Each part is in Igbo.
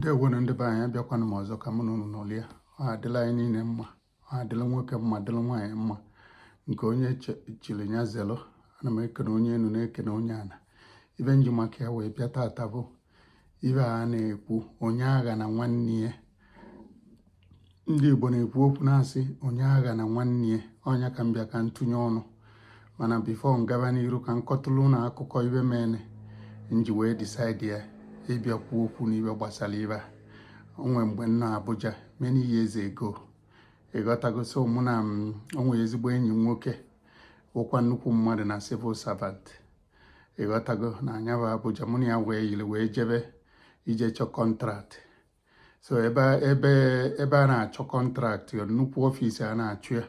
ndewonu ndị be anyị abịakwana m ọzọ ka mụ na unu nọrịa ọ adịla anyị niile mma ọ adịla nwoke mma dịla nwaanyị mma nke onye chili nya zelu ana m ekene onye enu na-ekene onye ana ibe m ji maka ya wee bịa tata bụ ibe a na-ekwu onye aghana nwanne ya ndị Igbo na-ekwu okwu na-asị onye aghana nwanne ya ọ nya ka m bịa ka m tụnye ọnụ mana before m gaba n'iru ka m kọtụlụ unu akụkọ ibe mene m ji wee decide ịbịa kwuo okwu n'ibe gbasara ibe a o nwe mgbe m nọ Abuja many years ago ị ghọtago so mụ na o nwe ezigbo enyi m nwoke wụkwa nnukwu mmadụ na civil servant ị ghọtago na nya bụ Abuja mụ na ya wee yiri wee jebe ije chọọ contract so ebe ebe ebe a na-achọ contract nnukwu office a na-achọ ya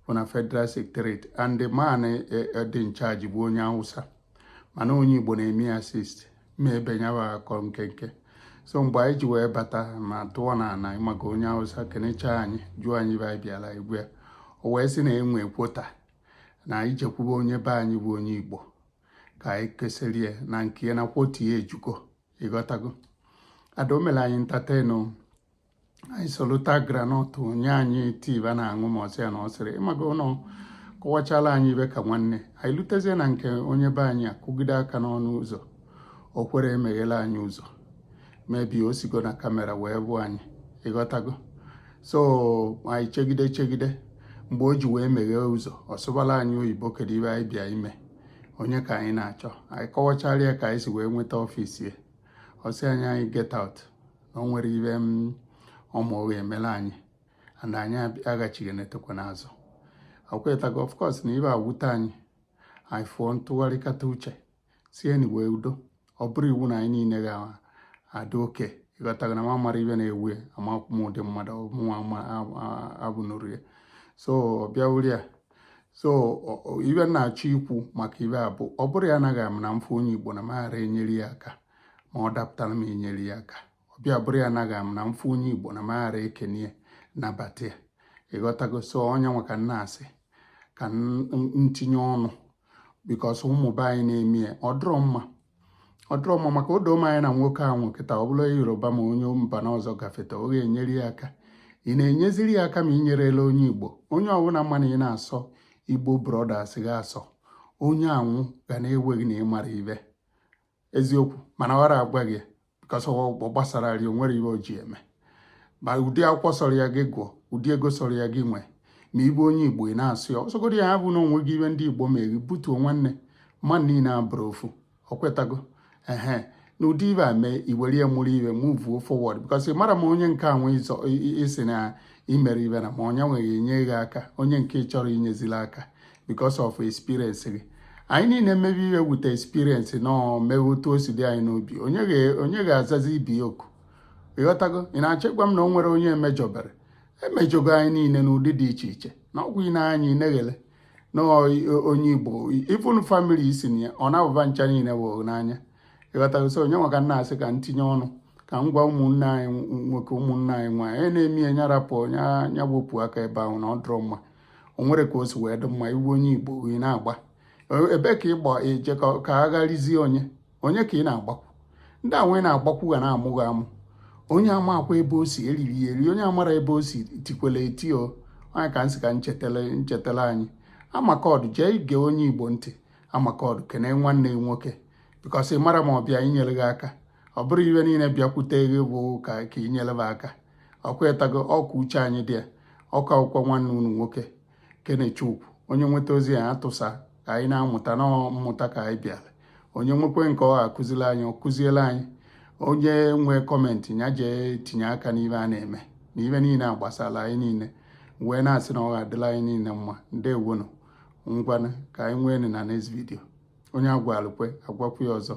bụ na federal secretariat and the man e, e, dị in charge bụ onye awụsa mana onye igbo na-eme ya assist m ma-ebe nya wụ akụkọ nkenke so mgbe anyị ji wee bata ma tụọ na ana maka onye awụsa kenecha anyị jụọ anyị ibe anyị bịala anyị gwa ya o wee sị na e nwe quota na anyị jekwube onye be anyị bụ onye igbo ka anyị kesịrị ya na nke ya na quota ya ejugo ị ghọtago although o mere anyị entertain nye anyị salted groundnut nye anyị tea ba na-aṅụ ma ọsị ya na ọ sịrị ịmaga ụlọ kọwachala anyị ibe ka nwanne anyị lutezie na nke onye be anyị akụgide aka n'ọnụ ụzọ o kwerọ emeghela anyị ụzọ maybe o sigo na camera wee fụ anyị ị ghọtago so anyị chegide chegide mgbe o ji wee meghee ụzọ ọ sụbala anyị oyibo kedu ibe anyị bịa ime onye ka anyị na-achọ anyị kọwachara ya ka anyị si wee nweta office ya ọ sị anyị anyị get out na o nwerọ ibe ọ ma-emela anyị and anyị aghachighị na-etokwa n'azụ ị ghọtago of course na ibe a wute anyị anyị fụọ m tụgharịkata uche sị enyi wee udo ọ bụrọ iwu na anyị niile ga-adị okay ị ghọtago na m amara ibe na-ewu ya amakwụ m ụdị mmadụ mụnwa abụnụrụ ya so bịa wuri ya so ibe m na-achọ ikwu maka ibe a bụ ọ bụrụ ya anaghị ama na m fụ onye Igbo na m ghara enyere ya aka ma ọ dapụtara m enyere ya aka ọ bịa bụrụ ya naghị m na m fụ onye igbo na m ghara ekene nabata ya ị ghọtago so ọ nya nwa ka m na-asị ka m tinye ọnụ because ụmụ be anyị na-eme ya ọ dịrọ mma ọ dịrọ mma maka ọdịmma anyị na nwoke ahụ kịta ọ bụrụ yoruba ma onye mba na ọzọ gafeta ọ ga-enyere ya aka ị na-enyeziri ya aka ma ị nyerela onye igbo onye ọbụla ma na ị na-asọ igbo brothers ga-asọ onye anwụ ga na-ewe gị na ị mara ibe eziokwu mana ọra agwa gị because ọgbọ gbasara ri o nwere ihe o ji eme ma ụdị akwụkwọ sọrọ ya gị gụọ ụdị ego sọrọ ya gị nwee ma ị bụ onye igbo ị na-asụ ya ọ sọgodi ya abụ na o nweghị ive ndị igbo meghi butuo nwanne mmadụ niile abụrụ ofu ọkwa ịghọtago ehe na ụdị ive a mee i were ya mụrụ ive move forward because ị marọ ma onye nke anwe ịzọ isi na imere ive na ma onye nweghị enye gị aka onye nke chọrọ inyezila aka because of experience gị anyị niile mmebi ihe wute experience na mewe otu o si dị anyị n'obi onye ga-azazi ibe ya oku ịghọtago ị na-achịkwa m na o nwerọ onye e mejọberọ e mejọgo anyị niile n'ụdị dị iche iche na ọgwụ ị na-anya ineghele na onye igbo even family i si na ya ọ na-abụba ncha niile bụ n'anya ịghọtago so onye nwa ka m na-asị ka m tinye ọnụ ka m gwa ụmụnne anyị nwoke ụmụnne anyị nwaanyị na-eme ya nya rapụ nya wepụ aka ebe ahụ na ọ dụrọ mma o nwerọ ka o si wee dị mma ị hụ onye igbo ị na-agba ebe ka ị gba eje ka agharizie onye onye ka ị na-agbakwu ndị a nwa ị na-agbakwu ga na-amụ gị amụ onye amakwa ebe o si eriri ya eri onye amarọ ebe o si tikwele eti o onye ka m sị ka m chetele m chetele anyị amakọdụ jee ige onye igbo ntị amakọdụ kene nwanne gị nwoke because ị marọ ma ọ bịa inyere gị aka ọ bụrọ ive niile bịakwute gị bụ ka ka inyere gị aka ọkwa ịghọtago ọkwa uche anyị dị ya ọ ka bụkwa nwanne unu nwoke kenechukwu onye nweta ozi ya atụsa ka anyị na-amụta na mmụta ka anyị bịara onye nwekwe nke ọ ga-akụziri anyị ọ kụziela anyị onye nwee comment ya jee tinye aka n'ive a na-eme na ive niile a gbasara anyị niile wee na-asị na ọ ga-adịla anyị niile mma ndewonu ngwana ka anyị nwee na next video onye a gwalụ kwe a gwakwu ya ọzọ